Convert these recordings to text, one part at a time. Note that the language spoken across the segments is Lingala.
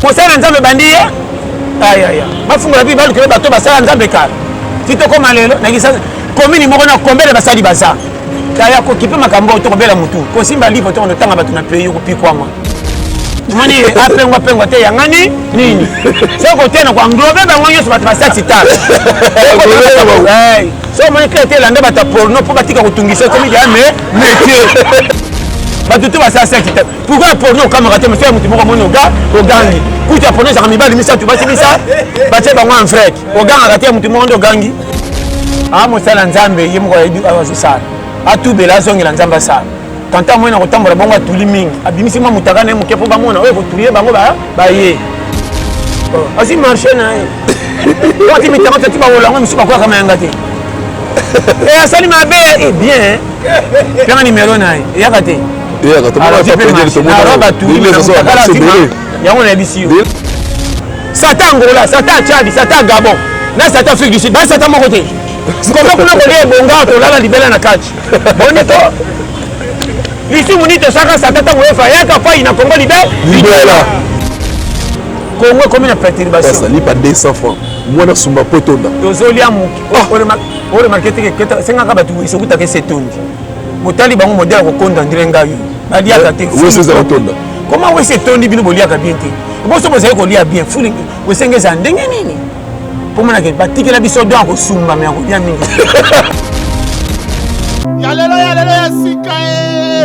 kosala nzambe ebandi ye ayaya bafungola mpe balukela bato basala nzambe kala ti tokoma lelo nakisa komini moko na kombele basali baza kaya kokipe makambo oyo tokobela motu kosimba livre to kondotanga bato na pays okopikwama moni apengwa pengwa te yangani nini soki kotena koanglobe bango nyonso bato basati ta so omoni kla te elanda bato ya porno mpo batika kotungisa okomi deya me métier bato te basala saki te pourquoi porno okamaka te mafia ya motu moko amoni oga ogangi kutu ya porno ezaka mibali misato basi misa batie bango en frek ogangaka te ya motu moko nde ogangi a ah, mosala nzambe ye moko azosala atubela azongela nzambe asala tanta moye na kotambola bongo atuli mingi abimisi mwa motaka na ye moke mpo bamona oyo kotulie bango baye oh, azwi marché na ye wati mitanga tati baolango mosusu bakwaka mayanga te eh, asali mabe eh, bien pema nimero na ye eyaka te eyaka tomonaarobatuyebele yango nayebisi yo sata angola sata chadi sata gabon na sata afrique du sud baye sata moko te koma kuna kolia ebonga tolala libela na kati boni to lisumu nini tosaka sata ntango efa yaka pai na kongo libe libela kongo ekomi na perturbation lipa 200 francs mwana sumba mpo etonda tozolia moke o remarke te ke esengaka bato soki take se tondi botali bango modele ya kokonda ndire ngai baliaka te koma wese etondi bino boliaka bien te boso bozali kolia bien fuli wesenge eza ndenge nini pomonake batikela biso don akosumba me akolia mingi ya lelo ya lelo ya sika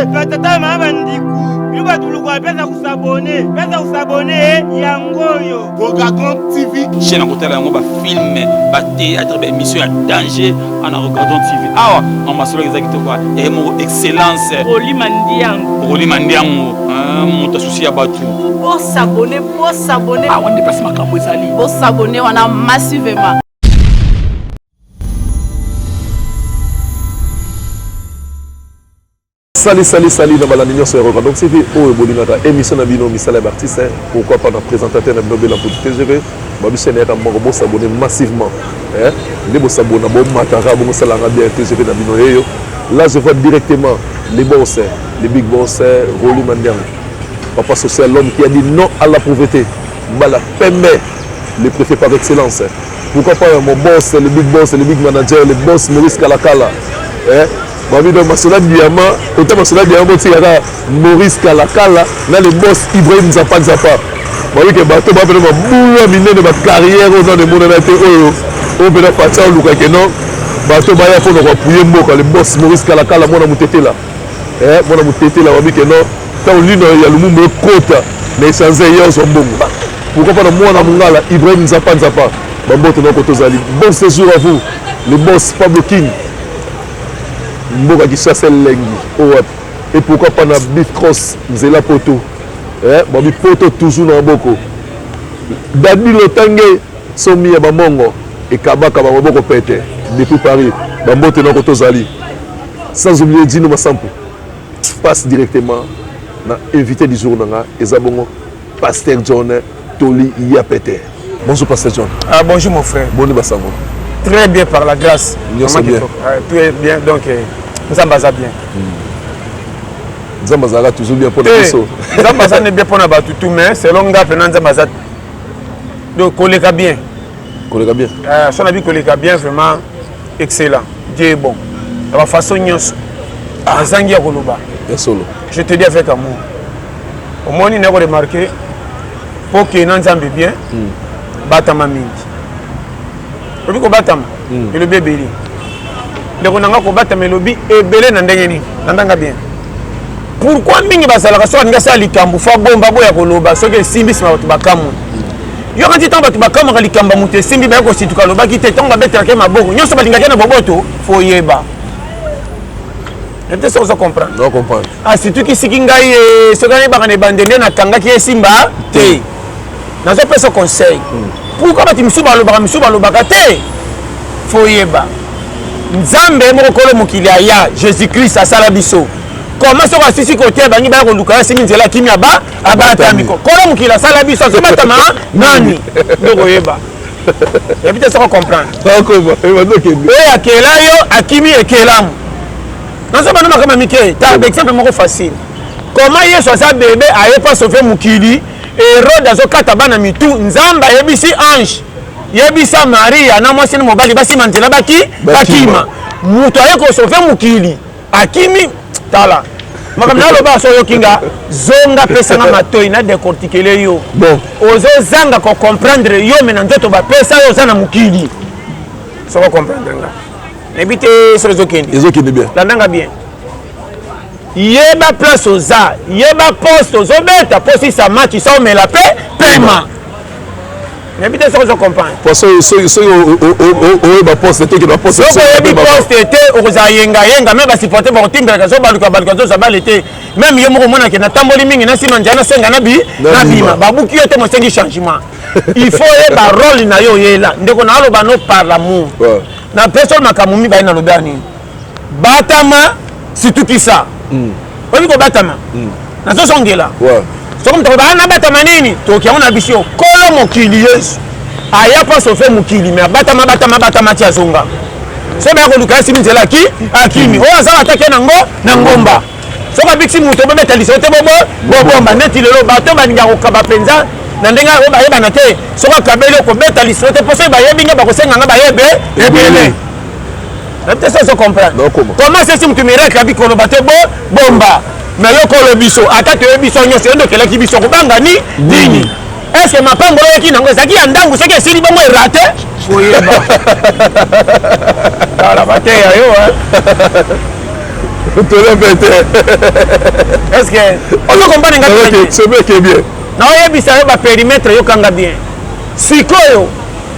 e batata maa bandiku bino batuluku apesa kusabone pesa kusabone yango oyo Bogagon TV. Je na kotala yango ba film, ba théâtre, ba émission ya danger ana Bogagon TV. Awa na masolo ezaki to kwa eh mo excellence. Oli mandiango. Oli mandiango. Ah, moto asusi ya batu. Bo s'abonner, bo s'abonner. Ah, on dépasse makambo ezali. Bo s'abonner wana massivement. Sali sali sali na balandi nyonso ya Rock Random TV oyo bolingaka emission na bino misala ya b'artiste hein. pourquoi pas na présentateur na bino Bella Mputu TGV babi chaîne yaka moko bo s'abonner massivement hein nde bo s'abonner bo mataka bo sala nga bien TGV na bino yeyo là je vois directement les boss hein. les big boss hein. Rolly Mandiang papa social l'homme qui a dit non à la pauvreté Mbala Pembe le préfet par excellence hein. pourquoi pas mon boss le big boss le big manager le boss Maurice Kalakala hein Babi donc Masela Diamant, autant Masela Diamant botika kaka Maurice Kalakala na le boss Ibrahim Zappa Zappa. Babi ke bato ba pena mabulu ya minene ba carrière oyo nano emonana te oyo oyo pena Fatsa oluka ke non bato baya mpo na koapuye mboka le boss Maurice Kalakala mwana motetela eh, mwana motetela babi ke non ntango lino ya Lumumba ekota na esanza eye ozwa mbongo pourquoi pas na mwana mongala Ibrahim Nzapa Nzapa bambote noko tozali bon séjour à vous le boss Pablo King mboka kisasa elengi oyo oh, wapi et pourquoi pas na bif cross nzela poto eh, babi poto toujours na maboko dadi lotange somi ya bamongo ekabaka bango boko pete depuis paris bambote nako tozali sans oublier dino masampu passe directement na invité du jour na nga eza bongo Pasteur John Toli Yapete. Bonjour Pasteur John. Ah bonjour mon frère. Boni basango. Très bien par la grâce. Nyonso bien. Ah, tout est bien donc eh, Nzambe aza bien. Hmm. Nzambe azalaka toujours bien mpo na eh, biso. Nzambe aza ne bien mpo na bato tout mais selon nga mpe na Nzambe aza donc koleka bien. Koleka bien. Ah, so na bi koleka bien vraiment. excellent dieu est bon na bafaçon nyonso nazangi ya koloba ya solo je te dis avec amour omoni nako remarke mpo okei na nzambe bien mm. batama mingi obi kobatama mm. elobi ebele ndeko na nga kobatama elobi ebele na ndenge nini na ndanga bien pourkui mingi bazalaka soki alingi asala likambo fo abomba boya koloba soki esimbisima bato bakamwe yoka ti ntango bato bakamwaka likambo ya moto esimbi baye kosituka alobaki te ntango babetelaka ye maboko nyonso balingaki na boboto foyeba te soki ozo comprendre asitukisiki ngai eh, soki anayebaka na ebande nde nakangaki esimba te nazopesa conseil hmm. pourkui bato misusu balobaka misusu balobaka te foyeba nzambe moko kolo mokili aya jésus christ asala biso koma soki asisi kote bangi baya koluka ye asimbi nzela akimi aba abatami kolo mokili asala biso azobatama nani ndokoyeba yabi te soko comprendre oyo akela yo akimi ekelamu nazoba na makama mike ta exemple moko facile koma yesu aza bebe aye mpo asove mokili erode azokata bana mitu nzambe ayebisi ange yebisa maria na mwasi na mobali basima nzela bakima moto aye kosove mokili akimi tala makambo naloba so oyoki nga zonga pesa nga matoi na decortikele yo bon ozozanga kocomprendre yo me na nzoto bapesa yo oza na mokili soko comprendre nga nayebi te soki ezokende ezokende bien landanga bien yeba place oza yeba poste ozobeta posisa match sa omela mpe pema nayebi te soki ozo comprendre po soki oyeba poste te okende baposte soki oyebi poste te okozala yengayenga meme basupporte bakotimbelaka so baluka baluka zoza bale te meme ye moko omonake natamboli mingi nasima njai nasenga na bi nabima babuki yo te mosengi changement il faut oyeba role na yo oyela ndeko naaloba no par lamour na pesol makambo mibale nalobi ya nini batama situkisa mm. oyebi kobatama mm. nazozongela ouais. soki moto akoba nabatama nini toki yango na biso kolo mokili yesu aya mpo asofe mokili me abatama batama batama ti azonga soki baya koluka ye simi nzela aki akimi oyo azala atake nango na ngomba soki abikisi moto obebeta lisolo te bobo bobomba neti lelo bato balinga kokaba mpenza na ndenge yango bayebana te soki akabeli okobeta lisolo te mpo soki bayebi nga bakosenga nga bayebe ebele nayebi te soki ozocomprendre comment sesi motu miracle abi koloba te bo bomba me yokolo biso ata toyebi biso nyonso yo nde okelaki biso kobanga ni nini mm. estce mapango oyaki nango ezalaki ya ndango soki esili bongo erate koyeba tala bateya yo tolebe te estce ozokompane ngasobe eke bien naoyebisa yo baperimetre yokanga bien sikoyo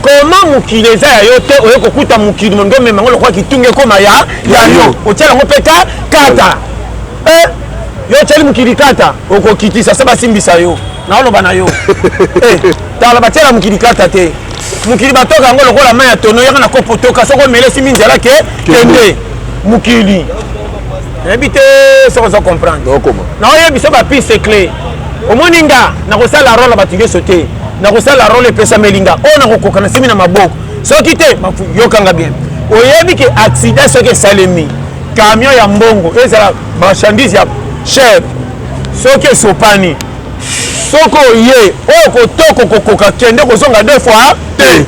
koma mokili eza ya yo te oye kokuta mokili molingi omema yango lokola kitunga ekoma ya ya yo otia yango mpe ka kata eh, yo otyeli mokili kata okokitisa se basimbisa yo naoloba na yo eh, tala batyela mokili kata te mokili batoka yango lokola mai ya tono yaka na kopo toka soko omelesi minzela ke kende mokili nayebi te soki ozo comprendre okoma naoye biso bapiste cle omoni nga nakosala role ya bato nyonso te nakosala role epesameli nga oyo nakokoka na simi na maboko soki te yokanga bien oyebi ke accident soki esalemi camion ya mbongo ezala marchandise ya cher soki esopani soki oye oyo kotoko kokoka kende kozonga deux fois te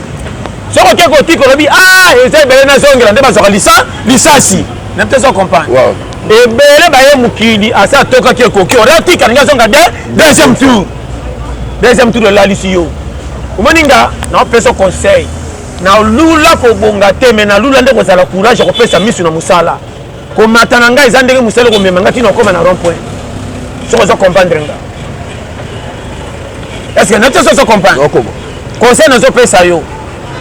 soki oke kotika olobi a ah, eza ebele nazongela nde bazwaka lisasi na mpe ezo comprendre ebele baye mokili asi atokaki ekoki oratika ndenge azonga de deuxième tour deuxième tour elalisi yo omoni nga naopesa conseil nalula kobonga te me nalula nde kozala courage ya kopesa misu na mosala komata na ngai eza ndenge mosali komema ngai ntina okoma na rond point soki ozo comprendre nga estce na biso soso comprendre conseil nazopesa yo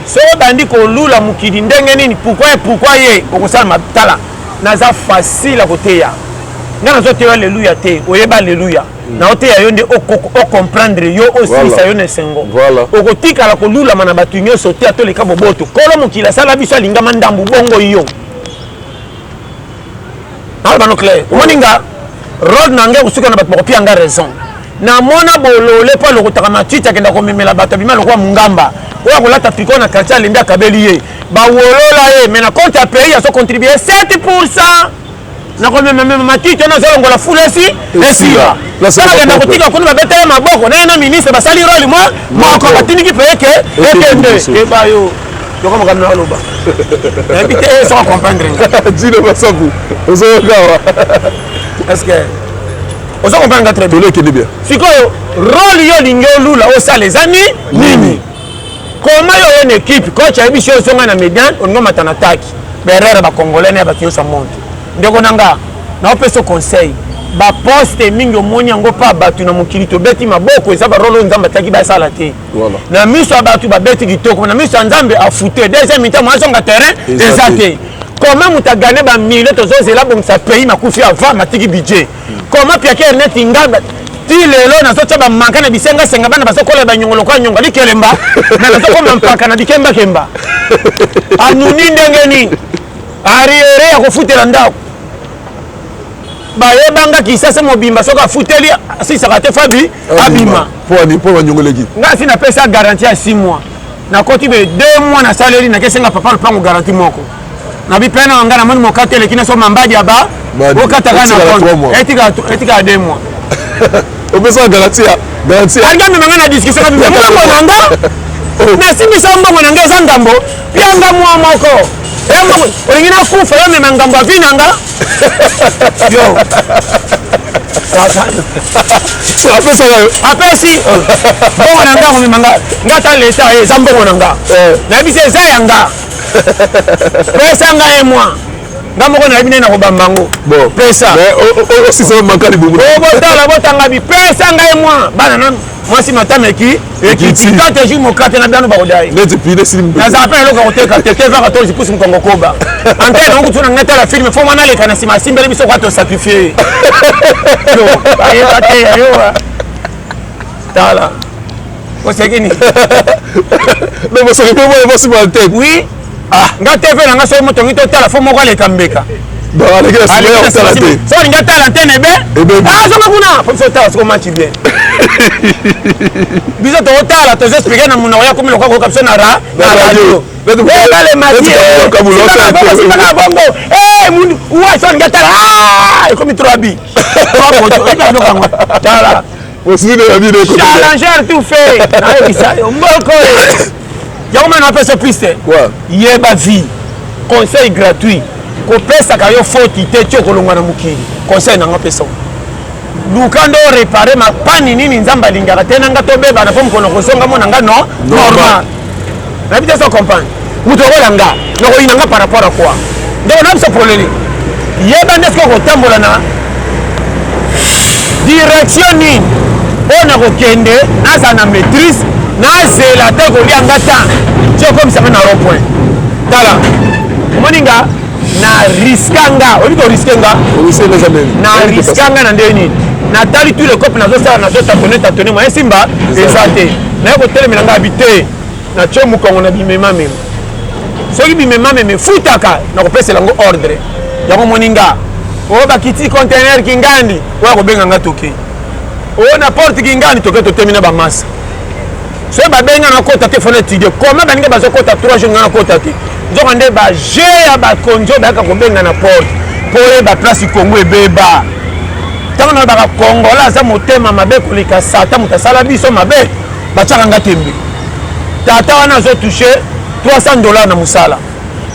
soki obandi kolula mokili ndenge nini pourkui pourkui ye okosala matala naza facile ya koteya ngai nazoteya aleluya te oyeba aleluya mm. naoteya yo nde ocomprendre yo osilisa yo na esengo okotikala kolulama na bato nyonso te atoleka boboto kolo mokili asala biso alingama ndambu bongo yo aloba no clair omoni nga role na ngai kosuka na bato bakopia nga raison namona bolole mpo alokotaka matiti akenda komemela bato abima lokola mongamba oyo akolata triko na quartier alembi akabeli ye bawolola ye mais na compte ya pays azo contribue 7 pourcent nakomemamema matiti wana azolongola fulesi esiba salakenda kotika kuna babeta ye maboko naye na ministre basali role mwa moko batindiki mpe eke ekende ebayo yoko makambo na aloba nayebi te eh, soko comprendre nga dino masaku ozoyoka awa est ce que ozo comprendre nga très bien tolekende bien sikoyo role yo olingi olula osala eza ni nini koma yo oyo na ekipe coach ayebi si ozonga na median olingi omata na taki berere bacongolais na ya bato nyonso ya monde ndeko na nga naopesa conseil baposte mingi omoni yango mpa bato na mokili tobeti maboko eza barole oyo nzambe ataki basala te voilà. na miso ya bato babeti kitoko na miso ya nzambe afute deuxième mi-temps mwazonga terrain eza te comment moto agane bamilio tozozela abongisa pays makufi avant matiki budget comment piake erneti ngamba ti lelo nazotya bamanka na bisengasenga bana bazokola banyongo lokola nyongo alikelemba na nazokoma mpaka na bikembakemba anuni ndenge nini ariere ya kofutela ndako bayebanga kisasa mobimba soki afuteli asisaka te fabi abima mpo banyongoleki ngai si napesa garanti ya 6 mois nakoti be 2 mois nasaleli nakesenga papa lopango garanti moko na bipena na ngai namoni mokati eleki naso mambadi ya ba okataka na etikala 2 mois opesaka garanti ya garanti ya algamemanga na discussion na bibemoko na nga oh. nasimbisa mbongo na nga eza ndambo pianga mwa moko olingi nakufa yo mema ngambo avi na nga yo apesaka yo apesi mbongo na nga komema nga nga ta leta eh, eza mbongo na nga eh. nayebisi eza ya nga pesa nga ye mwa nga moko nayebi nde nakobamba yango pesa osisa makali bomo botala botanga bi pesa nga ye mwa bana nanu mwasi matama eki ekiti kaka ejour mokate na bino bakodai nazala mpe na eloko ya koteka te te vaka to zipusi mokongo koba antene yango kutu na ngai tala filme fo mwana aleka na nsima asimbeli biso kwa tosakrifie ye ayeba te yayoa tala oseki nini donc oseki mpe mwana mwasi matete oui ah nga tv na nga soki motongi totala fo moko aleka mbeka so olingi atala antene ebe azonga ah, kuna po biso otala soko match bien biso tokotala tozo explike na monoko ya komi lokola koyoka biso na radio ebale matiebongo uwa so olingi atala ah, ekomi trop abi tala Challengeur tout fait. yango mpe napesa piste yeba vie conseil gratuit kopesaka yo foti te ti okolongwa na mokili conseil nanga pesa luka nde orepare mapani nini nzambe alingaka te nanga tobebana mpo mokolo kozonga mona nga no normal nayebi te so comprendre moto okola nga nakoyina nga par rapport à quoi donc nabisa polele yeba nde soki okotambola na direction nini oyo nakokende nazala na maîtrise nazela te kolia nga ta ti okomisa nga na rond point tala omoni nga na riska nga oyebi koriske nga na riska nga na ndenge nini natali tout le cope nazosala nazotatone tatone moyen simba eza te naye kotelemela nga abi te Natye mokongo na bimemamema. Soki bimemamema efutaka, nakopesela yango ordre. Yango moni nga oyo bakiti contener kingandi oyo akobenga nga toke oyo na porte kingandi toke totemi na bamasa soki babenga nakota te fona étudie koma baninga bazokota 3 jour nga nakota te nzoka nde baje ya bakonzi oyo bayaka kobenga na porte mpo oyeba place kongo ebeba ntango nalobaka kongola aza motema mabe koleka sata moto asala biso mabe batiaka nga tembe tata wana azo touche 300 dollars na mosala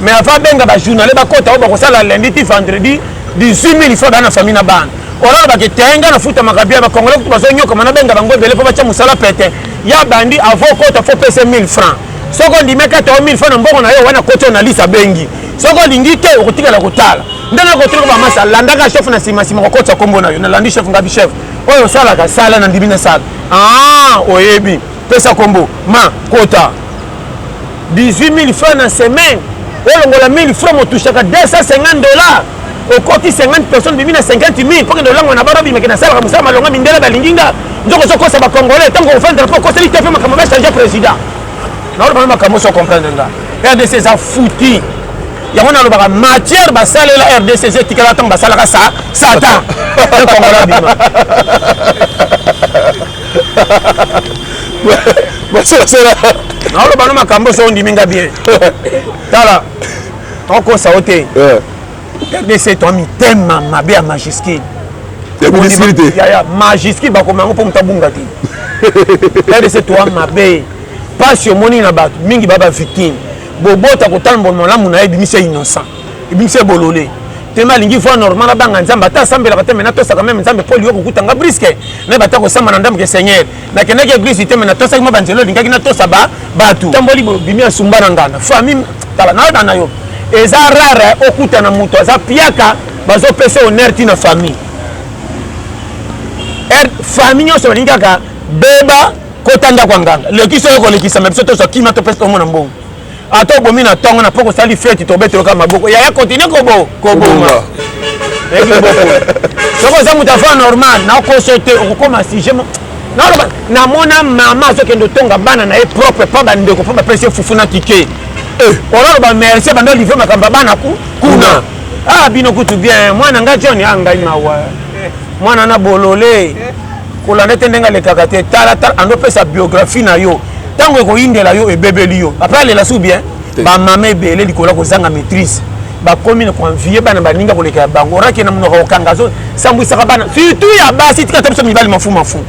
mais avant abenga bajournale bakota oyo bakosala lundi ti vendredi 18 000 fois baa na famille na bana olala bake te nga nafutamaka bia bakongole kutu bazonyokama nabenga bango ebele mpo batya mosala pete ya bandi avo okota fo pese 1000 franc soki ondimi ekata o 1000 franc na mbongo na yo wana koti oyo na lisi abengi soki olingi te okotikala kotala nde nakotika bamasa landaka chef na nsima nsima kokotisa nkombo na yo nalandi chef ngabi chef oyo osalaka sala nandimi nasala Ah, oyebi pesa kombo ma kota 18000 francs na semaine olongola 1000 francs motushaka 250 dollars okoti 50 personnes bimi na 50 000 mpo kende olangwa na bana bimaki nasalaka mosala malonga mindele balingi nga nzoko ozokosa bacongolais ntango ofandaka mpo okoseli te mpe makambo bachange président naolobana makambo oso comprendre nga rdc eza fouti yango nalobaka matière basalela rdc eza etikala ntango basalaka sa satan ekongola bima naolobana makambo oso ondimi nga bien tala okosa o te rdc toa mitema mabe ya majuscule majuscule bakoma yango mpo moto abunga te rdc toa mabe pasi omoni na bato mingi ba ba victime bobota kotambola malamu na ye ebimisa innocent ebimisa bolole tema alingi voi normal abanga nzambe ata asambelaka te me natosaka meme nzambe mpo liyo kokuta nga briske nayeba ata kosamba na ndamke seigneur nakendaki eglise te me natosaki mwa banzela olingaki natosa bato tamboli bimi asumba na ngana famille tala nayoka na yo eza rare okuta na moto aza piaka bazopesa honneur ti na famille er, famille nyonso balingi kaka beba kota ndako ya nganga lekisa yo kolekisa me biso tozwa kima topesi tongo na mbongo ata obomi na ntongo na mpo kosali feti tobeteloka maboko yaya kontinue kobo koboma soki oza moto afa normal nakoso te okokoma sujet naloba namona mama azokende otonga bana na ye propre mpo bandeko mpo bapesi ye fufu na kike eh. olaloba merci banda olivre makambo ya bana kuna ah bino kutu bien mwana ngai john a ah, ngai mawa mwana na bolole kolanda te ndenge alekaka te tala tala andopesa biographie na yo ntango ekoyindela yo ebebeli yo apres alela su bien bamama ebele likolo ya kozanga maîtrise bakomi na koenvie bana baninga koleka ya bango oraki na monoko kokanga azo sambwisaka bana surtout ya basi tika ta biso mibali mafu mafu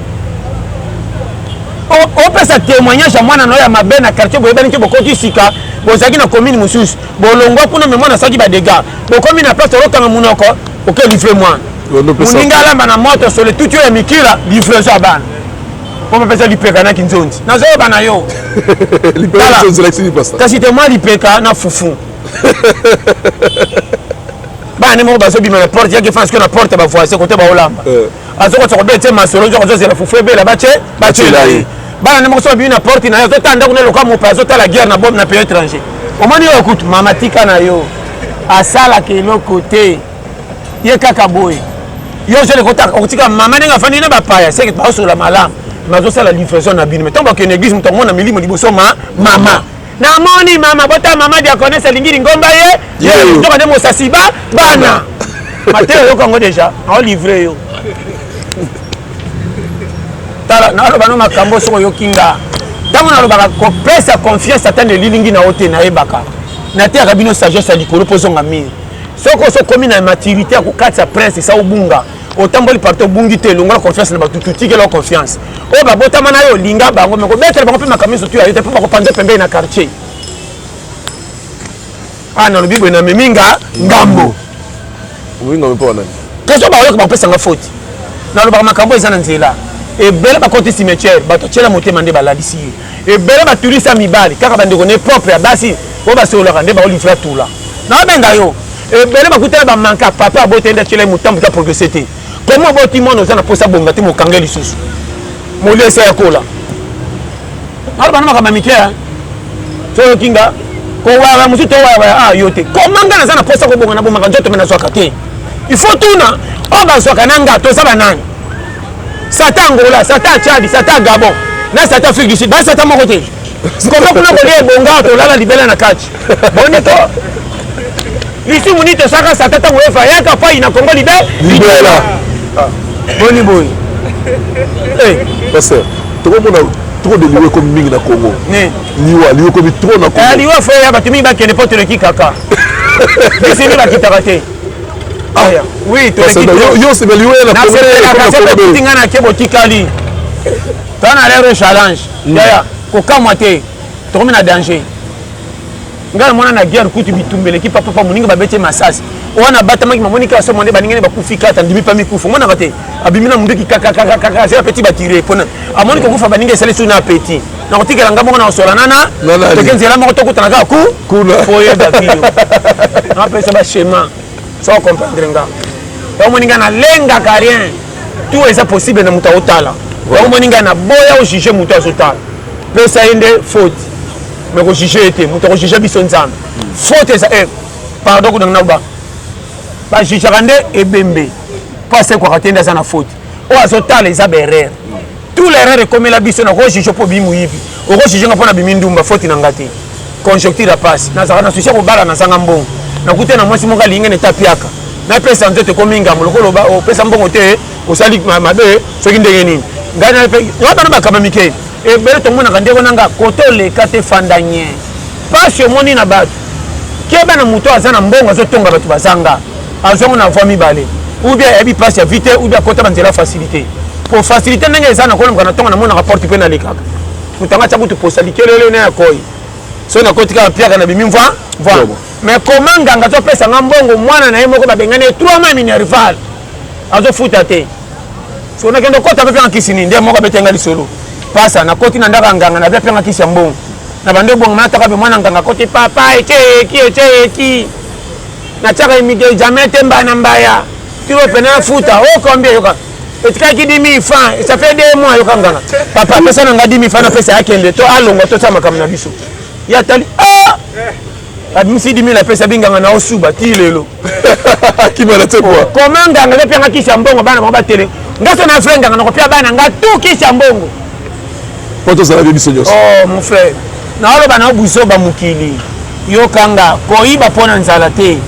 opesa témoignage ya mwana nayo ya mabe na quartier boyebani te bokoti sika bozalaki na commune mosusu bolongwa kuna me mwana asalaki badega bokomi na place olokanga monoko oke livre mwana moninga alamba na moto sole tuti oyo ya mikila livraison ya bana mpo bapesa lipeka na kinzonzi nazoyeba na yo kasi te mwa lipeka na fufu bana nde moko bazobima na porte yaki fana sikoyo na porte bavoise kote baolamba eh. azokotisa kobela tie masolo nzoko azozela fufu ebela batie batiela ye bana nde moko so babimi na porte na ye azotala ndako na loka mope azotala guerre na bome na pays étranger omoni oyo kutu mama tika na yo asalaka eloko te ye kaka boye yo ozali kotika mama ndenge afandi na bapaya seke baosolola malamu nazosala livraison na bino me ntango bakende église moto amona milimo liboso ma mama namoni mama bota mama diaconese alingi lingomba ye yeyoka nde mosasi ba bana mateyo yoka yango deja aolivre yo tala naloba no makambo soki oyoki nga ntango nalobaka kopesa confiance ata na elilingi na yo te nayebaka nateyaka bino sagesse ya likolo mpo ozonga mire soki osokomi na maturité ya kokatisa prince esa obunga otamboli parti obungi te longola confiance na bato tutikela confiance oyo babotama na yo olinga bango me kobetela bango mpe makambo nyonso tuya yo te mpo bakopanza pembeni na quartier a ah, nalobi boye namemi nga ngambo question baoyoka bakopesanga foti nalobaka makambo eza na nzela ebele bakoti cimetière bato atyela motema nde balalisi ye ebele batulisi ya mibali kaka bandeko ne propre ya basi oyo basololaka nde baolivra tula nabenga yo ebele bakutela bamanka papa abota ende atyela ye motambo ta progrese te komi oboti mwana oza na mposa bonga te mokange lisusu molesi ya kola naloba na makambo ya mike soyoki nga kowaya mosusu towayawaya a ah, yo te koma nga naza na mposa kobonga na bomaka nzoto me nazwaka te il faut tuna oyo bazwaka na nga toza banani sata angola sata chadi sata gabon na sata afrique du sud baye sata moko te koma kuna kolia ebonga tolala libela na kati boni to lisumu nini tosaka sata ntango efa yaka pai na kongo libe libela ah. boni boye eh. paster tokomona trop de liwa ekomi mingi na congo liwa liwa ekomi trop na congo eh, liwa fo ya bato mingi bakende mpo toleki kaka bisimi bakitaka te aya oui yo osepeli oya na problème nga na ke botikali ta na lero challenge mm. yaya kokamwa te tokomi na danger ngai namona na guerre kutu bitumba eleki papapa moninga babeti masasi wana abatamaki mamoni kaka somo nde baninga nde bakufi kata ndimi pa mikufa omonaka te abimi na monduki kakakakaka azela peti batire mpona amoni kokufa baninga esali su na apeti nakotikela nga moko na osola nana toke nzela moko tokutana kaka ku kuna oyeba biyo napesa bachema so comprendre nga omoni nga nalengaka rien tout eza possible na moto aotala omoni nga naboya ojuge moto azotala pesa ye nde faute me kojuge ye te moto akojuge biso nzambe faute eza eh, pardon kunanga nakoba bajujaka nde ebembe mpo asekwaka te nde aza na faute oyo azotala eza baerreur tout l'erreur ekomela biso na kojuge mpo obii moyibi okojuge nga mpo na bimi ndumba foti na nga te conjoncture ya pasi nazalaka na susi ya kobala nazanga mbongo nakuta na mwasi moko alingi neta piaka napesa nzoto ekomi ngambo lokola opesa mbongo te osali mabe soki ndenge nini ngai ngai bana bakaba mike ebele tomonaka ndeko na nga kote oleka te fanda nye mpasi omoni na bato keba na moto aza na mbongo azotonga bato bazanga azwa ngo na voie mibale ou bien ayebi place ya vie te ou bien akota ba nzela facilité po facilité ndenge eza na kolomka na ntongo namonaka porte mpe nalekaka moto anga tya kutu posa likelele na ya koi so nakoti kaka mpiaka na bimi mva mva mais koma nganga azopesa nga mbongo mwana na ye moko babengani ye trois mai minerval azofuta te so nakende okota mpe mpenga kisi nini nde moko abete nga lisolo pasa nakoti na ndako ya nganga nazwa mpenga kisi ya mbongo na bande obongo manataka mpe mwana nganga akoti papa ekeeki ekeeki natiaka imite jamais te mbana mbaya tiro pena na futa o oh, combien yoka etikaki 10000 francs et ça fait 2 mois yoka nganga papa pesa na nga 10000 francs na pesa akende to alonga to sa makambo na biso ya tali ah abimisi 10000 apesa binganga na osuba ti lelo kimana te kwa koma nganga nde pianga kisi ya mbongo bana bango batele ngaso na fre nganga nakopia bana nga tu kisi ya mbongo mpo tozala bie biso nyonso oh, mon frère naoloba na buzoba mokili yokanga koyiba mpo na nzala te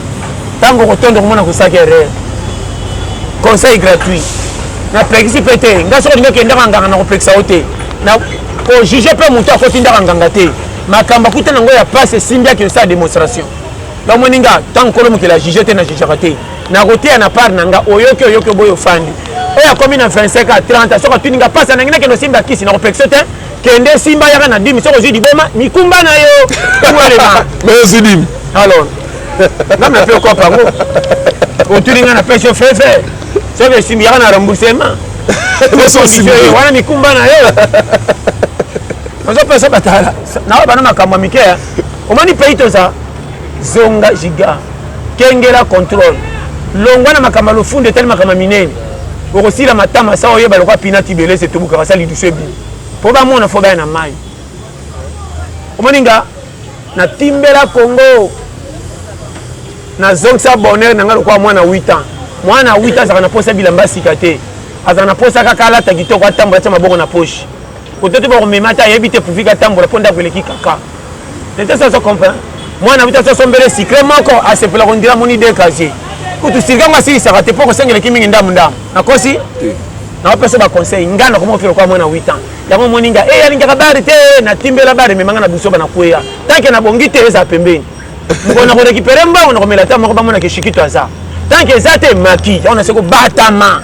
ntango okotondo komona kosaki erreur conseil gratuit napekisi mpe te ngai soki olingi okendaka nganga na kopekisa yo te kojuge mpe moto akotindaka nganga te makambo akuta nango ya pasi esimbiaki osala demonstration bamoni nga ntango kolo mokili ajuge te na jugaka te nakoteya na part na nga oyoki oyoki oboyi ofandi oyo akomi na 25 a 30 soki atuni nga mpasi nangi nakende osimba kisi nakopekisa te kende esimba yaka na dimi soki ozwi liboma mikumba na yo tuelema mais ozwi dimi alors nga mepe okopa yango otuni nga na pesho fefe soki esimbi yaka na remboursement wana mikumba na yo nazopesa batala nawa bana makambo ya mike omoni pei toza zonga giga Kengela control. Longwa na makama lofundo etali makama minene. Okosila matama sa oyeba lokwa pina tibelese etubukaka sa lidusu ebi. Po bamona fo baya na mai. Omoni nga na timbela Congo. Na zongisa bonheur na nga lokwa mwana 8 ans. Mwana 8 ans azaka na posa bilamba sika te. Azaka na posa kaka alata kitoko atambola tia maboko na poche. kote te bakomema ata ayebi te puvika atambola mpo ndako eleki kaka leta sasa comprend mwana bita soso mbele sikre moko asepela kondira moni de casier kutu sirika ngo asilisaka te mpo kosengeleki mingi ndambu ndambu nakosi nakopesa baconseil ngai nakomoko felo kwa mwana 8 ans yango omoni ngai e alingaka bari te natimbela bari ememanga na busoba na kweya tanke nabongi te eza pembeni mpo nakorekipere mbango nakomela ta moko bamona keshikito aza tanke eza te maki yango nase kobatama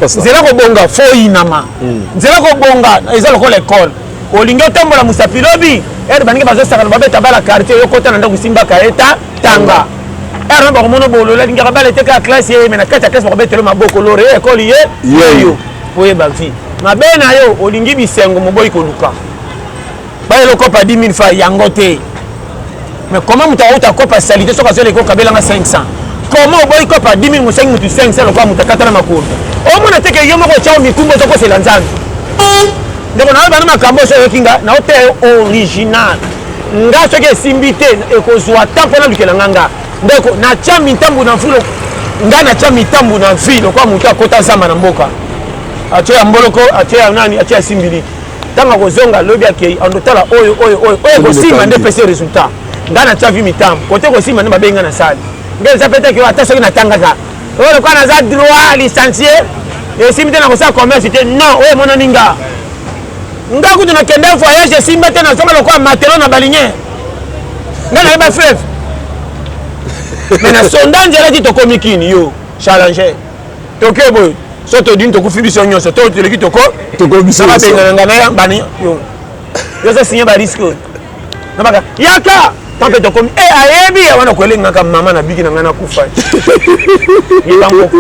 nzela kobonga fo oyinama hmm. nzela kobonga eza lokola ekole olingi otambola mosapi lobi ere baninga bazosakana babeta bala quartier oyokota na ndako esimbaka eta tanga ere na bakomona bolola lingaka bala eteka classe ye me na kati ya classe bakobetelo maboko lore ye ekoli ye yeyo oyeba vie mabe na yo olingi bisengo moboyi koluka baye lokopa 10 000 fa yango te mais comment moto akouta akopa salite soki azwela eko kabelanga 500 comment oboyi kopa 10 000 mosengi motu 500 lokola moto akatana makolo omona te ke yo moko otyao mikumba ozokosela nzambe ndeko nayo bana makambo oso oyoki nga naoteya yo original nga soki esimbi te ekozwa temps mpo nalukela nga nga ndeko natya mitambo na mfulo nga natya mitambo na vi lokola moto akota zamba na mboka atye ya mboloko atye ya nani atye ya simbiliki ntango akozonga alobi akei andotala oyo oyo oyo oyo ekosimba nde epesi résultat ngai natya vi mitambo kote kosimba nde mabengi ngai nasali ngai eza petaki oyo ata soki natangaka oyo lokola naza droit licencie esimbi te nakosala commerce te non oyo emonani nga nga kutu nakende voyage esimba te nazonga lokola matelo na balinien ngai nayeba fleuve mais na sonda nzelaki tokomi kini yo challenger toke boye so todini tokufi biso nyonso to toleki toko tokobisaka bengana nga na ya bani yo oza signe bariske oyo nabaka yaka to mpe tokomi e ayebi ya wana koelengaka mama na biki na ngai nakufa yebango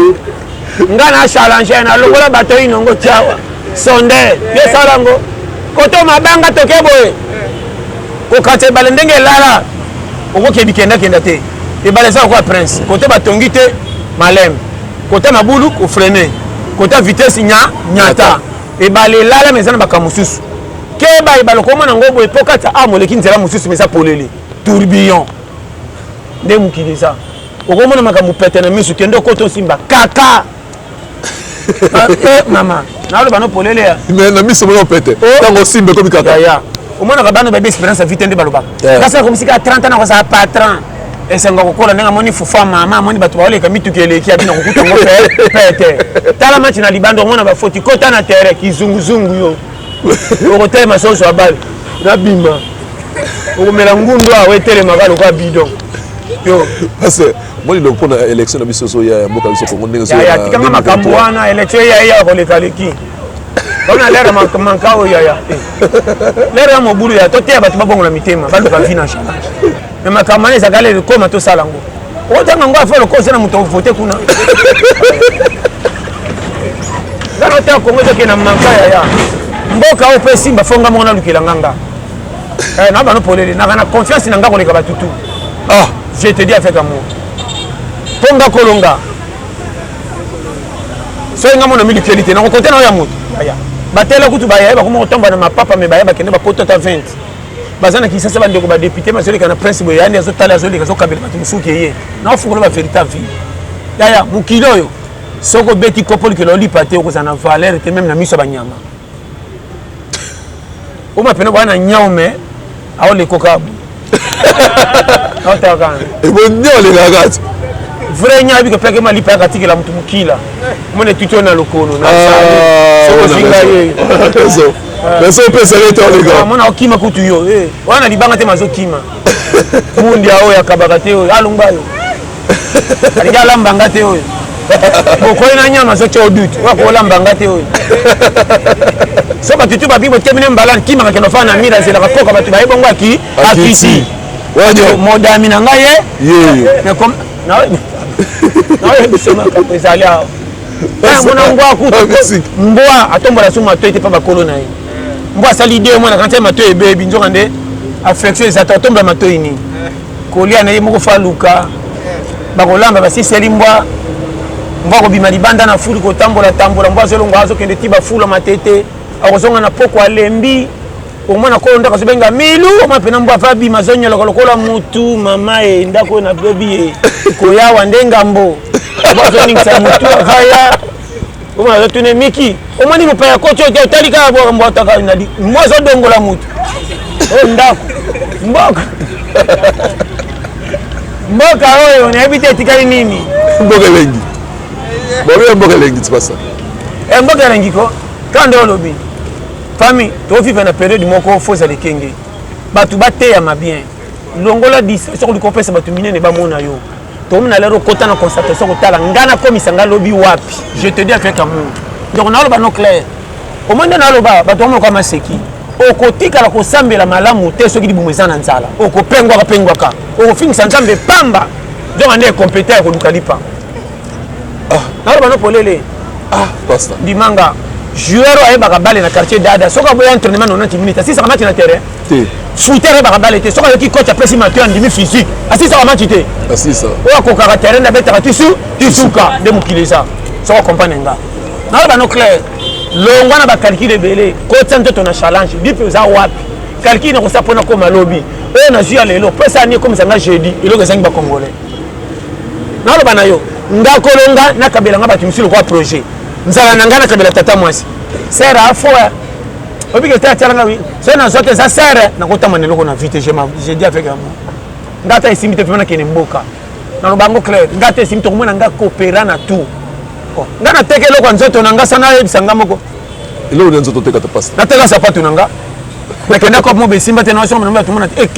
nga na challenge na longola bato inongo tiawa sonde yosala yango koto mabanga toke boye kokata ebale ndenge elala okoki ebikendakenda te ebale eza lokola prince kote batongi te malembe kota na bulu ko freiner kota vitesse nya nyata ebale lala mais eza na makambo mosusu keba ebale okomona yango boye mpo kati amu oleki nzela mosusu mais eza polele tourbillon nde mokili eza okomona makambo pete na miso kende okota osimba kaka eh, mama naloba no polele ya mais na miso moko pete oh. ntango osimba ekomi kaka omonaka bana bayebi expérience ya vite nde balobaka kasi akomisika ya 30 ans akozala patron esengo kokola ndenge amoni fufa mama amoni bato baoleka mituki eleki abina kokuta yango pete tala match na libanda omona bafoti kota na terrain kizunguzungu yo okotelema soso abale nabima okomela ngundu awa etelemaka lokola bidon yo Moni donc pona election na biso zo ya ya mboka biso Congo ndenge zo ya tika nga makambo wana election ya ya ko leka leki wana lera manka oyo ya ya lera ya mobulu ya to teya bato babongola mitema baluka vi na change me makambo wana ezaka lelo koma tosala ngo otanga ngo afa lokosa na moto vote kuna nga na ta kongo ezokende na manka ya ya mboka oyo mpe esimba fo nga moko nalukela nga nga eh, na bano polele naka na confiance na nga koleka batutu ah. Je te dis avec amour. Tonga kolonga. Soki nga mona mili keli te, nako kote na ya moto. Aya. Batela kutu baye ba kuma kotomba na mapapa me baye ba kende ba kota ta 20. Baza na kisasa ba ndeko ba député ma zoleka na prince boye yani azo tala azo leka azo kabela batu musuki ye. Na ofukola ba verité vie. Yaya mukilo yo. Soko beti kopoli ke loli pate okozana valeur te même na miso ba nyama. Uma pena bwana nyao me ao le koka. Nota kan. E bo nyao le gagat. Vrai nyao bi ko peke mali pa ka tikela mutu mukila. Mone tuto na lokono na sa. Ah, Soko zinga ye. Eso. Eso pesa le to le ga. Mona okima kutu yo. Eh, wana libanga te mazo kima. Mundi ao ya kabaka te. Alumba yo. alingi alamba nga te oyo bokoyi na nyama soki o dute oyo akolamba nga te oyo so bato tu babi botemine mbala nkimaka kende ofana na mire azelaka koka bato baye bongo aki akiti modami na ngai ye naoyebisemaka ezali awa yango na mbwa kutu ah, mbwa atombola so matoi te mpa bakolo na ye mbwa asali de mwana kantia matoi ebebi nzoka nde affection eza te otombola matoi nini kolia na ye moko fo aluka bakolamba basiseli mbwa mbwa kobima libanda na fulu kotambola tambola mbwa azolongo azokende ti bafula matete akozonga na poko alembi omona kolo ndako azobenga milu oma mpena mbwa ava bima azonyoloka lokola mutu mama e ndako oyo nabebi e koyawa nde ngambo mbwa azoningisa mutu avaya Omo aza tune miki. Omoni mopaya koti oyo otali kaka bwa mbwata kaka na mwa azo dongola moto. Oyo oh, ndako. Mboka. Mboka oyo nayebi te etikali nini. Mboka elengi. Bobe mboka elengi tibasa. Eh mboka elengi ko. Kanda olobi. Famille, to vivre na période moko faut za lekenge. Bato bateyama bien. longola distraction koliko opesa bato minene bamona yo tomi na lero okota na constatation kotala ngai nakomisa ngai lobi wapi je te dis avec amour donc naoloba no claire omoi nde naoloba bato bamonoka maseki okotikala kosambela malamu te soki libumu eza na nzala okopengwaka pengwaka okofingisa nzambe pamba donc nde competa ya koluka lipa ah. naoloba no polele ah, ndimanga joueur oyo ayebaka bale na quartier dada soki aboya entraînement 90 minutes asisaka mati na terrain te fruiter ayebaka bale te soki ayoki coach apesi matoi andimi physique asisaka match te asisa oyo akokaka terrain abetaka tisu tisuka nde mokili eza soki akompagne nga naloba no claire longwa na bacalcule ebele kotya nzoto na challenge bipe oza wapi calcule nakosa mpona koma lobi oyo nazwi ya lelo pesa ani ekomisa nga jeudi eloko ezangi bacongolais naloba na yo nga kolonga nakabela nga bato mosusu lokola projet nzala na ngai nakabela tata mwasi sera afoya obike te atyalanga wi so nazwa te eza sere nakotama na eloko na vie te je dis avec amour nga ata esimbi te vraimen nakende mboka naloba yango claire nga ata esimbi tokomona nga kopera na tout oh, nga nateka eloko ya nzoto na nga sa nayebisa nga moko eloko na nzoto otekata pasta nateka sapatu na nga nakenda kopo mobe esimba te naosomba tomona te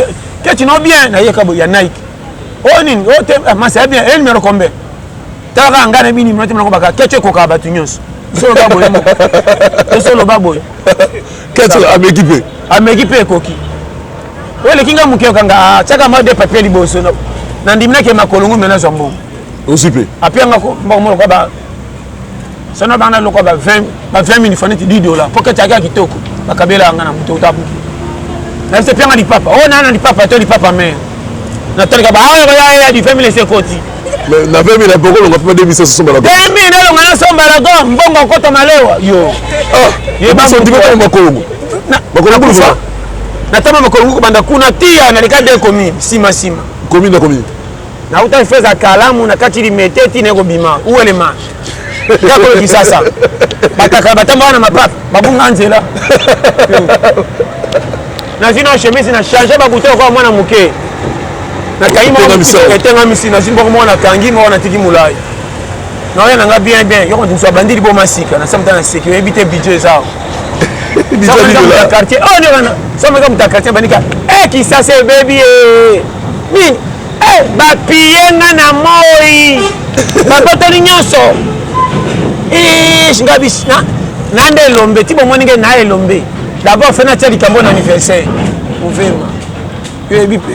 keti no bien nayeka boye ya nike oyo oh, nini oyo oh, te ah, masi ya bien e eh, numero kombe talaka nga na bini minote mnakobaka keti ekokaka bato nyonso tosoloba boye tosoloba boye keto ameki mpe ameki mpe ekoki oyo eleki ngai moke okanga ah, tiaka mwa de papier liboso nandimi nake makolo ngombe nazwa mbongo osi mpe apianga mbongo moloka ba sono bana lokwa ba 20 ba 20 mini faniti 10 dollars mpo kati aka kitoko bakabela yanga na moto otabuki nayebisa epianga lipapa oyo oh, naa na lipapa to lipapa mare natalika baoyo ah, bayaya di 20 mini esekoti Mais na 20 000 na boko longa papa 2000 somba la go. 2000 na longa na somba la go mbongo kota malewa yo. Ah, ye ba so ndiko ko makongo. Na makongo ko fa. Na tama makongo ko banda kuna tia na lika de commune sima sima. Commune na commune. Na uta feza kalamu na kati limete ti ne ko bima. Où est le marche? kaka oyo kisasa bataka batambaka na mapap babunga nzela nazwi na chemise na change bakute okoa mwana moke nakangimaetengamisi nazwi mboko moko nakangi moko natiki molai naoya na nga bien bien yoko ndimso abandi liboma sika nasamta na seki oyebi te bidjo eza quartier oh, someka moto ya quartier bandika eh, kisasa ebebi eh. nini Eh, bapiye nga na moi babotoli nyonso eh, nga bisi na nde elombe ti bomoni nge na elombe d'abord fe natya likambo na anniversaire ovema yoyebi mpe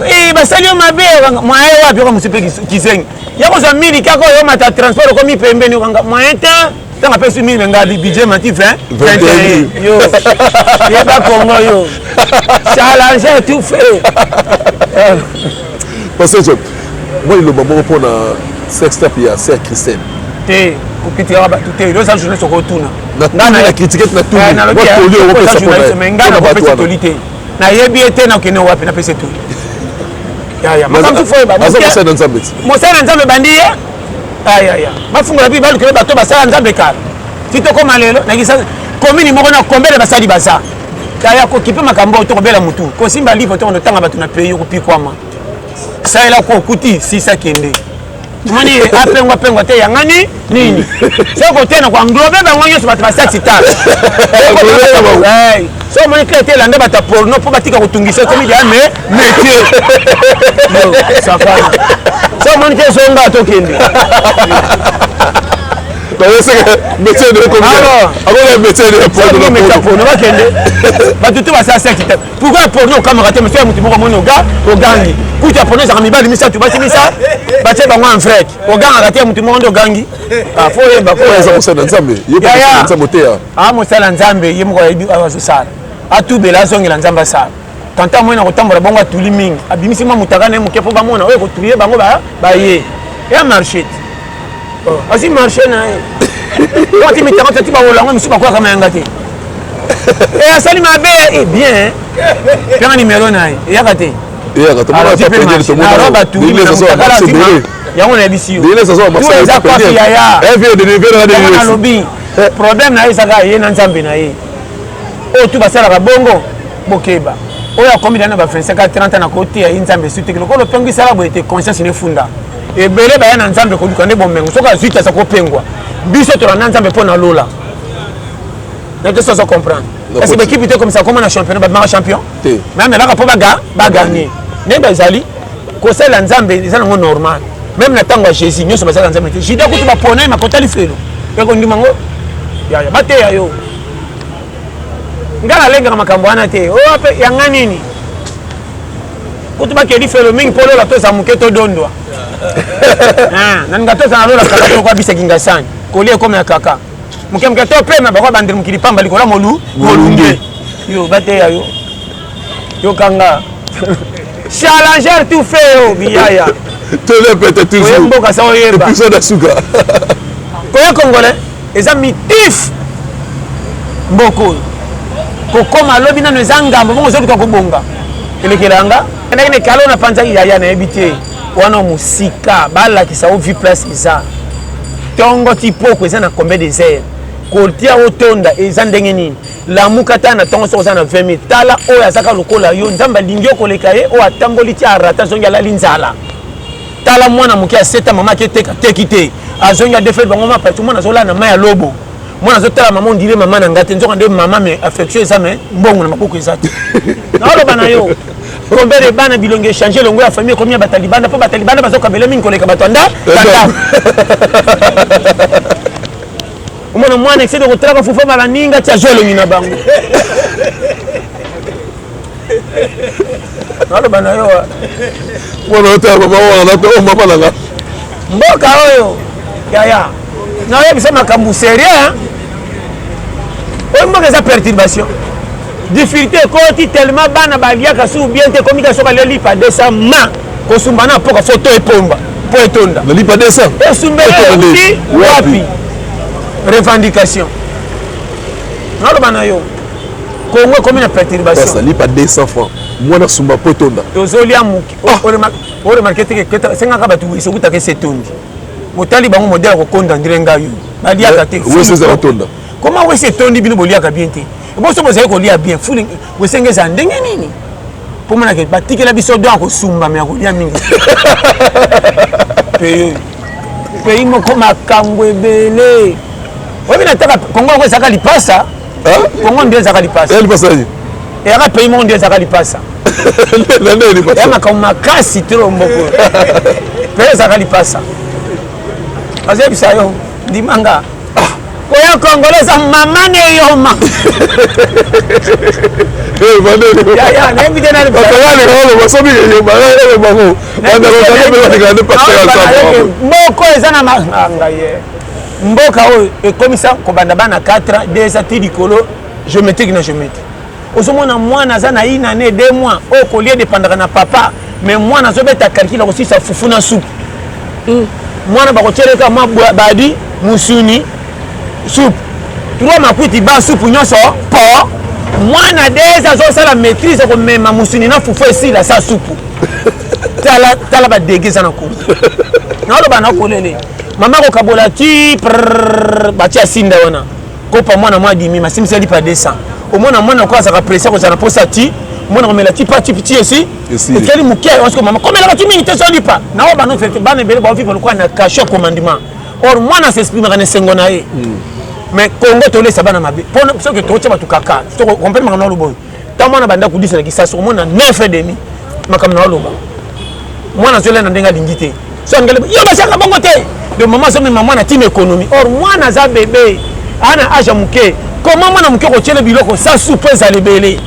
eh, basali yo mabe mwaye wapi oka mosu mpe kizengi ya kozwa miliki ako oyomata transport okomi pembeni okanga moyen te ntango apesi mille nga bidje mati 20 21 yo yeba kongo yo challenge tout fait pasejo mwa liloba moko mpo na sextap ya ser christine te kokitikaka bato te oza journaliste okotuna nganaaokitiketnatuli te nayebi ye te nakende wapi napesi etuli mosala na nzambe ebandi ye ayaya bafungola mpe balukela bato basala nzambe kala ti tokoma lelo nakisa komini moko na kombele basali baza taya kokipe makambo oyo tokobela motu kosimba livre to kondotanga bato na pays okopikwama salela ko okuti sisa kende moni apengwa pengwa te yangani nini soki kotena koanglobe bango nyonso bato basati tala so omoni kla te elanda bato ya porno mpo batika kotungisa ekomi jamai Metier. Yo, savana. Ça montre que son gars tokende. bayoseke metier de akola metier de porno bakende bato te basala seki te pourkoi porno okamaka te monsieur motu moko omoni oga ogangi kutu ya porno ezaka mibali misato basi misa batie bango en vrek ogangaka te motu moko nde ogangi ah, fo oyemba koeza mosala nzambe yaya mosala nzambe ye moko ayebi azosala atubela azongela nzambe asala tanta moyen na kotambola bongo atuli mingi abimisi mwa motaka na ye moke mpo bamona oyo ekotuye bango baye ya marche te oh, asi marche na ye ati mitaka tati baolango misusu bakwaka mayanga te e asali mabe e bien mpenga nimero na ye eyaka te yango nayebisi yoalobi problème na ye ezaka ye na nzambe na ye oyo tu basalaka bongo bokeba oyo akomi dana ba 25 a 30 na koteya ye nzambe esu teke lokola opengi sala boye te conscience ne efunda ebele baya na nzambe koluka nde bomengo soki azwi te aza kopengwa biso tolanda nzambe mpo na lola nayo tosi azo comprendre kasi bekipe te komisa koma na championnat babimaka champion mais amelaka mpo baganye nde bazali kosalela nzambe eza nango normal meme na ntango ya jésus nyonso basalaka nzambe te juda kutu bapona ye makota lifelo ya kondima ngo yaya bateya yo ngai nalengaka makambo wana te oyo oh, mpe yanga nini kutu bakeli felo mingi mpo lola toza moke todondwa ah, na ninga toza na lola kaka toko abisa kingasani koli ekomi ya kaka moke moke topema bakobandela mokili pamba likolo ya molunge yo bateya yo yoka nga challenger tout fait yo biyaya telepete toujours mboka sa oyeba episode asuka oye congolais eza mitif mboka oyo kokoma lobi nano eza ngambo bongo ozoluka kobonga elekela yanga endaki na ekalo na panzaki yaya nayebi te wana mosika balakisa o vie place eza ntongo ti poko eza na combien des heures kotia otonda eza ndenge nini lamuka ata na ntongo soki oza na 20 minutes tala oyo azaka lokola yo nzambe alingi yo koleka ye oyo atamboli ti arata azongi alali nzala tala mwana moke ya seta mama aketeka teki te azongi adefele bango mapati mwana azolala na mai ya lobo mwana azotala mama ondire mama na ngai te nzoka nde mama me affection eza me mbongo na maboko eza te naoloba na yo combien de bana bilongi echange elongo ya famille ekomi ya batalibanda mpo batalibanda bazokabela mingi koleka bato anda tata omona mwana ekisede kotalaka fufa mala ninga ti azwa elongi na bango naloba na yo mwana otala mama wana nape o mama nanga mboka oyo yaya naoyebisa makambo sérieux oyo mboka eza perturbation Difficulté ekoti tellement bana baliaka sous bien te komika soka le lipa 200 ma kosumba na poka photo epomba po etonda. Le lipa 200. Esumba ekuti wapi? Revendication. Naloba na yo. Congo ekomi na perturbation. Pasa lipa 200 francs. Mwana sumba po etonda. Tozolia muki. Ah. O remarquer te que sengaka bato esokutaka esetondi. Botali bango modèle ya kokonda ndire ngai. Baliaka te. Wese ezala tonda. Comment wese etondi bino boliaka bien te? boso bozali kolia bien fuli bosenge ezala ndenge nini pomonake batikela biso don ya kosumba me ya kolia mingi peyo pays moko makambo ebele oyebi na taka kongo yango ezalaka lipasa kongo nde ezalaka lipasa eyaka pays moko nde ezalaka lipasa ya makambo makasi tro mboko mpe ezalaka lipasa azoyebisa yo ndimanga oyo kongolo eza mama na eyoma moko eza na manga ye mboka oyo ekomisa kobanda bana 4 ans 2 ans ti likolo géométrique na géométrique ozomona mwana aza na une année deux mois oyo kolie depandaka na papa mais mwana azobeta calcul akosilisa fufu na supu mm. mwana bakotyeleka mabadi musuni supu trois makuiti ba supu nyonso po mwana des azosala maîtrise akomema musuni na fufu esila sa supu tala tala badege eza na kongo naoloba nakolele mama kokabola ti batia sinda wana kopa mwana mwa dimi masimbisi ya lipa 200 omona mwana ko azaka presse kozala na posa ti mwana komela ti pati piti esi ekeli moke osiko mama komelaka ti mingi te so lipa na oyo bana ofete bana ebele baoviva lokola na cachet ya commandement or mwana asesprimaka na esengo na ye mais congo tolesa bana mabe mpo soki totya bato kaka comprendre makambo na loboyo ntango mwana banda kudisa na kisasa omona 9 et demi makambo na oloba mwana azolela na ndenge alingi te so angele yo basiaka bongo te de mama azomema mwana ntina ekonomi or mwana aza bebe aa na age ya moke koma mwana moke kotyele biloko sasu mpo ezala ebele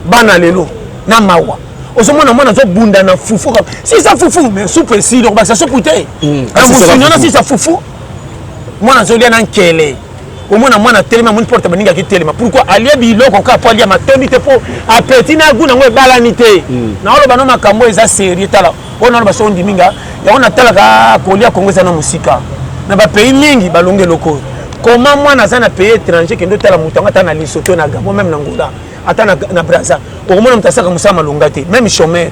bana lelo na mawa ozomona mwana azobunda na fufu sisa fufu mais supu esili okobakisa supu te na mosuni wana sisa fufu mwana azolia na nkele omona mwana atelemi amoni porte baningi akitelema pourkui alia biloko kaka mpo alia matondi te mpo apeti na gu nango ebalani te hmm. naoloba no makambo eza serie tala oyo naloba so ondimi nga yango natalaka ah, kolia kongo eza na mosika na bapays mingi balongi eloko oyo koma mwana aza na pays étranger kende otala moto yango ata na lisoto na gabo meme na ngola ata na braza okomona moto asaka mosala malonga te meme chomere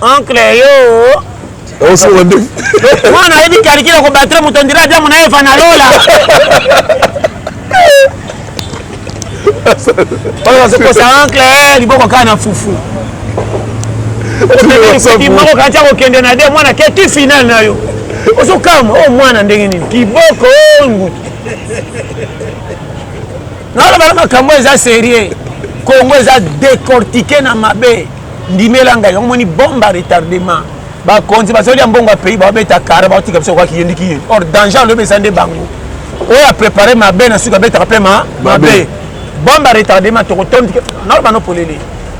oncle yo mwana ayebi kalikile kobatire moto ondire adamu na eva na lola oyo bazokosa oncle eh, liboko kaka na fufu moko kati akokende na de mwana ke ti final na yo ozokama o oh, mwana ndenge nini kiboko oh, ngutu naoloba na makambo eza serie congo eza decortike na mabe ndimela ngai yango moni bombe ba retardement bakonzi bazali ya mbongo ya pays babeta kara baotika biso kwa kiyendi kiyendi or danger alobi eza nde bango oyo aprépare mabe na suki abetaka mpe mabe bombe ya retardement tokotondi nao bano polele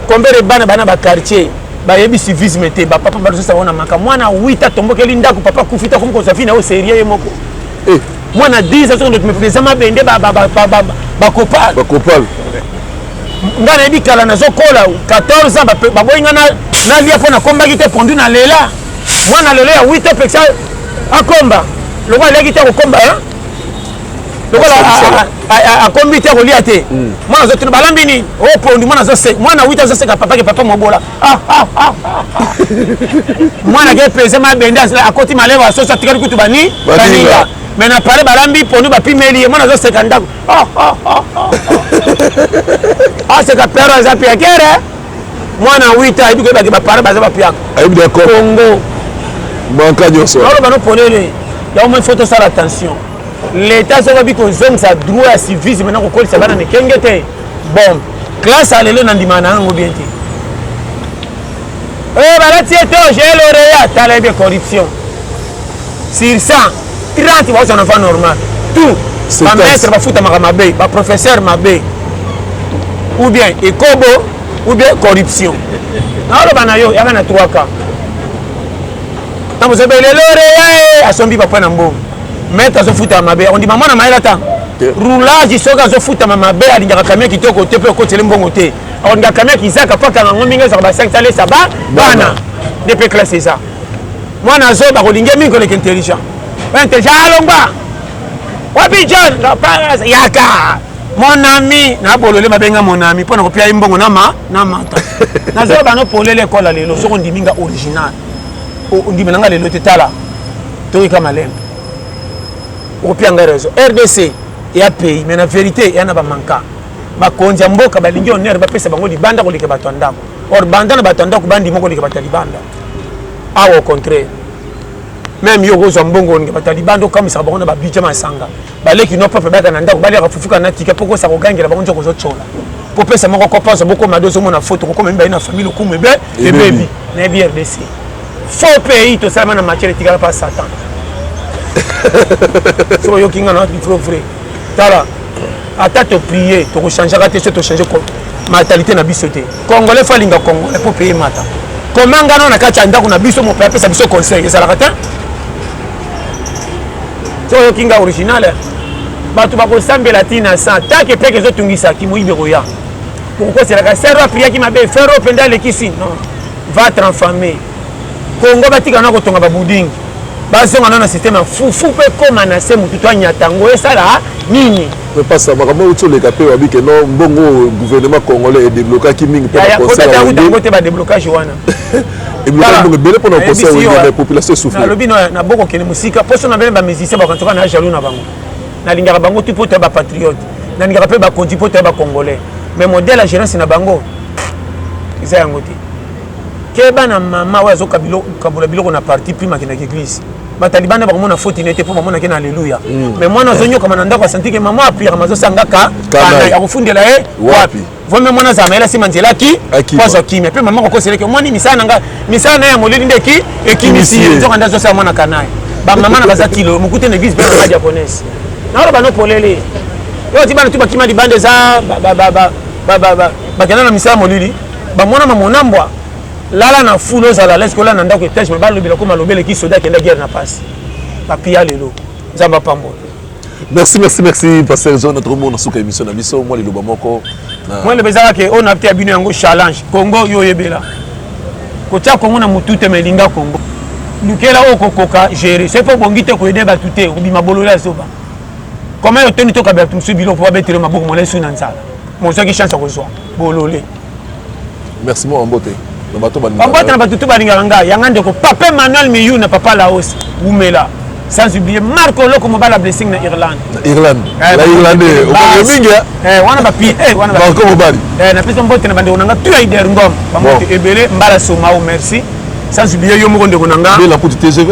kombele bana bana baquartier bayebi civisme te bapapa bazosala ngo na maka mwana wita atombokeli ndako papa kufi te akomi kozwa vi na yo serie ye moko eh. mwana 10 azoki ndoki me président mabende bakopal bakopal ngai nayebi kala nazokola 14 ans baboyi ngai nalia mpo nakombaki te pondu na lela mwana lelo ya 8 apekisa akomba lokola aliaki te akokomba lokola akombi te akolia te hmm. mwana azotuna balambi nini o oh, pondu mwana azoseka mwana 8 azoseka papake papa mobola mwana ke peze mabende akoti malebo ya soso atikali kutu bani baninga me na pale balambi ponu bapimeli ye mwana azoseka ndako aseka pero aza piakere mwana 8 ayebi koyebaki bapare baza bapiaka ayebi d'accord congo manka nyonso oloba no polele yango moi faut tosala attention leta soki abi kozongisa droit ya civisme na kokolisa bana mikenge te bon classe ya lelo nandima na yango bien te oyo eh, balati ete oje loreya tala yebe corruption sur 100 30 baoza na va normal tout bamaître bafutamaka mabe baprofesseur mabe ou bien ekobo ou bien corruption naoloba na yo yaka na 3 cas ntango ozobelelore yae asombi papa na mbongo maître azofutama mabe ondima mwana mayele ata roulage soki azofutama mabe alingaka kamia kitoko te mpe okotele mbongo te alingaka kamia kizaka mpo akanga ngo mingi ezaka basangi talesa ba bana nde mpe classe eza mwana azoba kolinge mingi koleka intelligent intelligent alongwa wapi john yaka mon ami nabolole mabenga mon ami mpo na kopia ye mbongo nama na mata nazoba no polele ekola lelo soki ondimi nga original ondimela nga lelo te tala toyika malembe opia ngai raison rdc ya pays mais na vérité ya na bamanka bakonzi ya mboka balingi honneur bapesa bango libanda koleka bato ya ndako or banda na bato ya ndako bandima koleka bato ya libanda awa au contraire meme yo okozwa mbongo olinga bato ya libanda okamwisaka bango na babudget masanga baleki no peuple baka na ndako baliaka fufu kana tika poko sa kogangela bango nzoko zocola kopesa moko kopanza bokoma do ozomona foto kokoma mibali na famille lokumu ebe ebebi na ebi rdc faux pays tosalama na matière etikala pa satan soki oyoki nga na ifro vrai tala ata toprie tokochangeaka te so tochange mentalité na biso te congolais fo alinga congolais mpo peye mata komangana na kati ya ndako na biso mope apesa biso conseil ezalaka te so oyoki nga original eh? bato bakosambela ti na san tanke peke ezotungisa kimoyibi ekoya kokokoselaka sero apriaki mabe fero mpenza alekisi non va transforme kongo batika na kotonga babudingi bazonga nano na systeme ya fufu mpe ekóma na se motu to anyata yango esala ah, nini epasa makambo euti oleka mpe wabi ke no mbongo gouvernement congolais edeblokaki mingi mpo na conseil yango te badeblokage wana nabokokende mosika mposo na bene bamusicien bakantoka na jaloux na bango nalingaka bango tu mpo toya bapatriote nalingaka mpe bakonzi mpo toya bacongolais mais modèle ya gérance na bango eza yango te keba na mama oyo azokabola biloko na parti prime akendaka eglise bataliban na bakomona foti na ye te mpo bamonaki na alleluya mais mwana azonyokama na ndako asantike mama apuyaka mazosangaka kana ya kofundela ye wapi vraimen mwana azala mayela nsima nzela ki po azwa kimia mpe mama kokoselaki omoni misala na ngai misala na ye ya molili nde ki ekimisi ye nzoka nde azosala mwana kanaye bamama na baza kilo mokute na eglise mpe na japonaise naoloba no polele yo oti bana tu bakima libanda eza bakenda na misala molili bamona mamona mbwa lala na fulu ozala leske olala na ndako etage me balobela koma lobeleki soda akenda guerre na pasi bapia lelo nzambe apambola merci merci merci pasteur john tokomona suka émission na biso mwa liloba moko mwa liloba ezaka ke oyo nateya bino yango challenge congo yo oyebela kotya congo na motu te ma elinga congo lukela oyo kokoka gérer soki mpe obongi te koyede bato te obima bolole ya zoba koma yo toni tokabela bato mosusu biloko mpo babetele maboko molai su na nzala mozwaki chance ya kozwa bolole merci mwa mbote na bato bambote na bato to balingaka ngai yanga ndeko papa emmanuel miyu na papa laos wumela sans oublier marco oloko mobala blessing na irlande na irlande eh, na irlande okoke mingi eh, wana bapi eh, wana marco mobali napesa mbote na bandeko na ngai tu aider ngom bambote ebele mbala somao merci sans oublier yo moko ndeko na ngai bela kuti tgv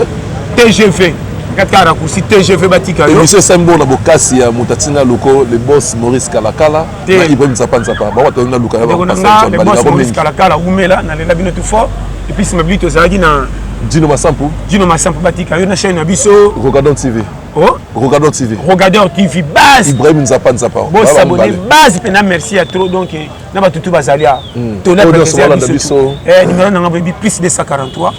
tgv katika rakusi tgv batika yo emission esembo na bokasi ya moto atinga loko le boss maurice kalakala te ibrahim nzapa nzapa bango bato na luka ndeko na nga le boss maurice kalakala umela nalela bino tout fort et puis sima bili tozalaki na dino masampu dino masampu batika yo na chaîne na biso rocadon tv oh? rocadon tv rocadon tv base ibrahim nzapa nzapa bosabone base mpe na merci ya trop donc eh, na bato tu bazali a hmm. tolaa biso eh, numero na nga boyebi plus 243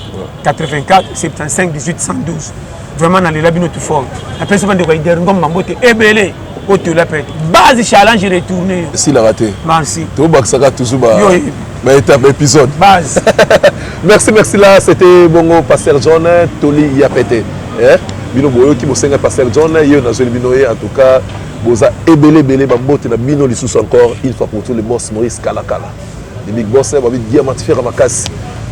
84 75 18 112 vraiment na lela bino tout fort na pesa bande ko ider ngom mambo te ebele o te la pète base challenge retourner si la raté merci to baksaka toujours ba yo ba étape épisode base merci merci là c'était bongo pasteur John Toli ya pète eh bino boyoki bosenga pasteur John yo na zeli bino ye en tout cas boza ebele ebele ba mbote na bino lisusu encore une fois pour tout le boss Maurice Kalakala Les big boss na babi diamant ferre makasi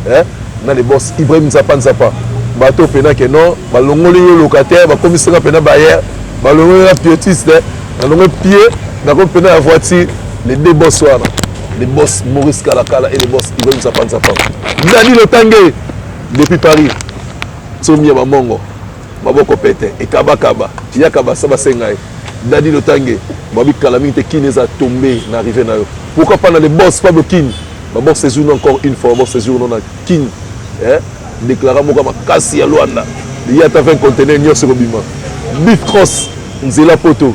eh na les boss Ibrahim Nzapa Nzapa bato pena ke non balongoli yo locataire bakomisi nga pena bayer balongoli nga pietiste nalongoli pied nakomi pena ya voiture les deux boss wana les boss Maurice Kalakala et les boss Ibrahim Nzapa Nzapa Dani Lotange depuis Paris tsomi ya bamongo maboko pete ekabakaba yaka basa basenga ye dadi lotange babi kala mingi te kini eza tombe na arrive na yo pourquoi pas na le boss pablo kini babor séjour no encore une fois babor séjour no na kini eh? déclara moko makasi ya luanda ye ata 20 contenaire nyonso ekobima bif cross nzela poto